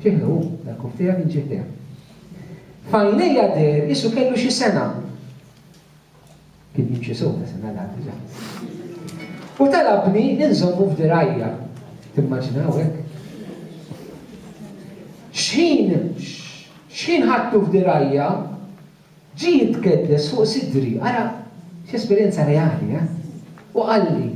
Fih hu, dal-kuf tiegħek inġieh tiegħek. F'għajnejja deher qisu kellu xi sena. Kien jimxi sew ta' sena l diġà. U talabni inżommu f'dirajja. Timmaġinaw hekk? X'ħin x'ħin ħadtu f'dirajja ġie jitkeddes fuq sidri, ara x'esperjenza reali, eh? U qalli,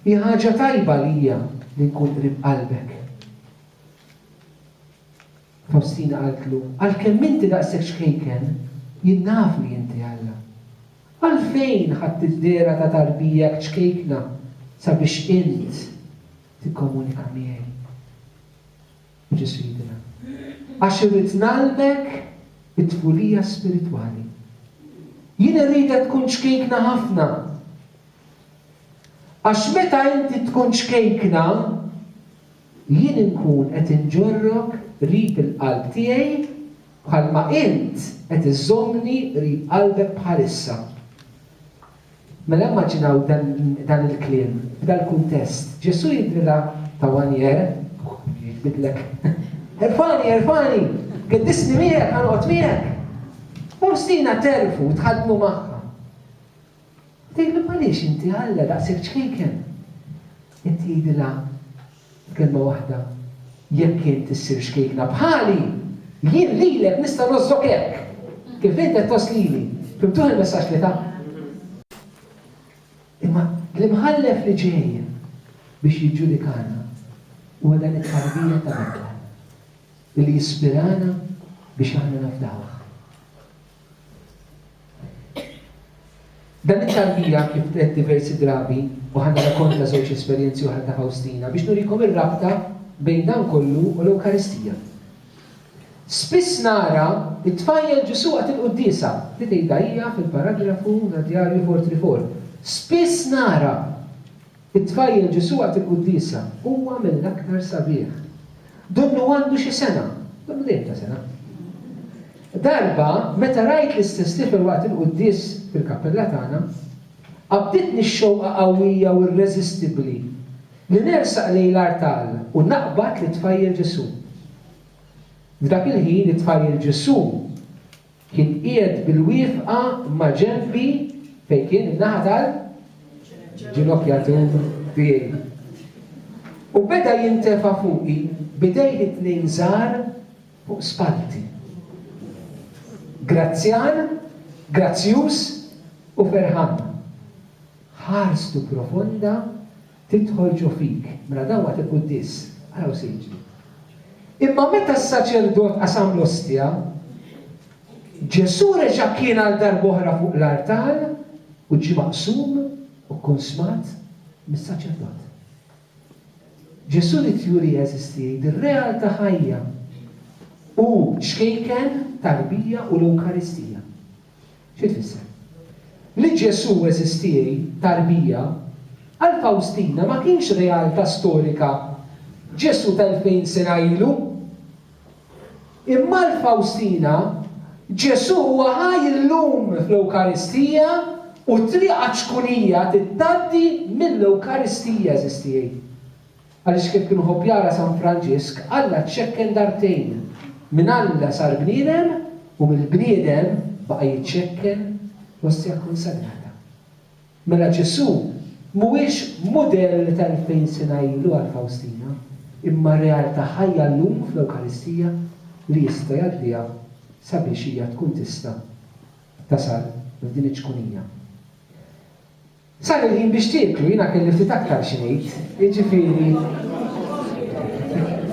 Hi ħaġa tajba għalija li nkun qrib qalbek. Fawstina qaltlu, Għalkemm inti daqshekk ċkejken, jien naf li inti Alla. Għalfejn ħadt id-dehra ta' tarbijak ċkejkna sabiex int tikkomunika miegħi? U Ġesù jgħidilha, Għax irrid ngħallmek it-tfulija spiritwali. Jien irridek tkun ċkejkna ħafna. Għax meta inti tkun ċkejkna, jien inkun qed inġorrok qrib il-qalb tiegħi bħalma int qed iżżommni qrib qalbek bħalissa. Mela immaġinaw dan il-kliem f'dal-kuntest. Ġesù jidhrilha ta' wanjer, jitbidlek, Erfagħni, erfagħni! Geddisni miegħek, ħa noqgħod miegħek! Fawstina tgħerrfu, tħaddnu magħha. Tgħidlu m'għaliex inti Alla daqshekk ċkejken? Inti għidilha b'kelma waħda, Jekk int issir ċkejkna bħali, jien lilek nista' ngħożżok hekk kif int qed tgħożż lili. Fimtuh il-messaġġ li ta? Imma l-Imħallef li ġej biex jiġġudikana huwa dan it-tarbija ta' Alla li jispirana biex aħna nafdawh. Dan ix-xahar hija kif qed diversi drabi u ħa nirrakonta żewġ esperjenzi oħra ta' Fawstina biex nurikom ir-rabta bejn dan kollu u l-Ewkaristija. Spiss nara t-tfajjel Ġesù waqt il-quddiesa, li tgħidha hija fil-paragrafu tad-djarju Fort Riform. Spiss nara! It-tfajjel Ġesù għad iquddiesha, huwa mill-aktar sabiħ. Donnu għandu xi sena, donnu dejjem ta' sena. Darba, meta rajt l-istess tifel waqt il-quddies fil-kappella tagħna, qabditni x-xewqa qawwija u irreżistibbli li nersaq lejn l-artal u naqbad lit-tfajjel Ġesù. F'dak il-ħin, it-tfajjel Ġesù, Kien qiegħed bil-wieqfa ma' ġenbi fejn kien in-naħa tal-ġinokjatur tiegħi. U beda jintefa' fuqi b'idejh it-tnejn żgħar fuq spallti. Grazzjan, grazzjuż u ferħan. Ħarstu profonda tidħol ġo fik, mela dawn waqt il-quddies, araw se jiġri. Imma meta s-saċerdot qasam l-ostja, Ġesù reġa' kien għal darba oħra fuq l-artal u ġie maqsum u kkunsmat mis-saċerdot. Ġesù ried juri għeżież tiegħi din realtà ħajja u ċkejken, tarbija u l-Ewkaristija. Xi tfisser? Li Ġesù eżistie, tarbija, għal Fawstina ma kienx realtà storika, Ġesù ta' elfejn sena ilu. Imma għal Fawstina, Ġesù huwa ħaj illum fl-Ewkaristija u t-triq għaċ-ċkunija tgħaddi mill-Ewkaristija, eżistie. Għaliex kemm kien iħobb jara San Franġisk, Alla ċċekken dartejn, minn Alla sar bniedem u mill-bniedem baqa' jiċċekken fl-Ostja Kkonsagrata. Mela Ġesù mhuwiex mudell ta' elfejn sena ilu għal Fawstina, imma realtà ħajja llum fl-Ewkaristija li jista' jgħaddiha sabiex hija tkun tista' tasal f'din iċ-ċkunija. Sar il-ħin biex tieklu, jiena kelli ftit aktar xi ngħid, jiġifieri.